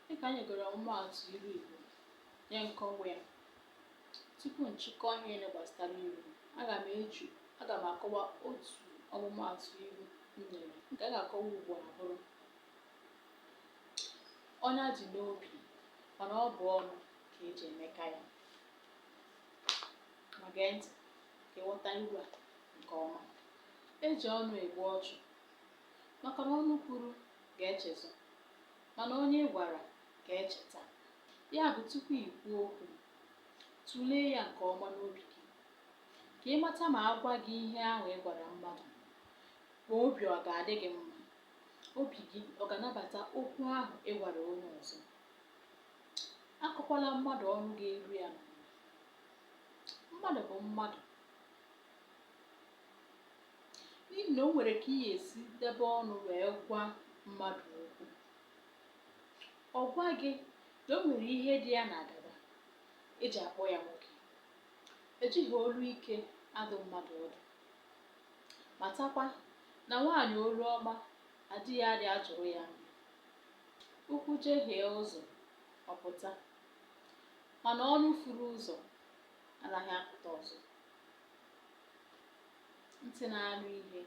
Dịka anyị gụrụ ọmụmaatụ ilu Igbo nye nkọwa ya, tupu nchịkọ ihe niile gbasara ilu, aga m eji aga m akọwa otu ọmụmaatụ ilu m nyere nke a ga-akọwa ugbu a bụrụ ọnya dị n'obi mana ọ bụ ọnụ ka eji emeka ya. Ma gee ntị ka ị ghọta ilu a nke ọma. E ji ọnụ egbu ọchụ maka na ọnụ kwuru ga-echezọ, mana onye a gwara ga-echeta. Ya bụ, tupu i kwuo okwu, tụlee ya nke ọma n'obi gị ka ị mata ma a gwa gị ihe ahụ ị gwara mmadụ, ma obi ọ ga-adị gị mma, obi gị ọ ga-anabata okwu ahụ ị gwara onye ọzọ. Akọkwala mmadụ ọnụ ga-eru ya n'ala. Mmadụ bụ mmadụ. n'ihi na o nwere ka ị ga-esi debe ọnụ wee gwa mmadụ okwu ọ gwa gị na o nwere ihe dị ya n'agada eji akpọ ya nwoke ejighị olu ike adụ mmadụ ọdụ matakwa na nwaanyị olu ọma di ya adịghị ajụrụ ya nri ụkwụ jehie ụzọ ọ pụta mana ọnụ furu ụzọ anaghị apụta ọzọ ntị na-anụ ihe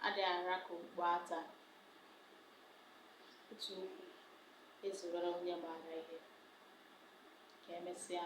adịghị ara ka okpu ata otu okwu ezuworo onye maara ihe ka emesịa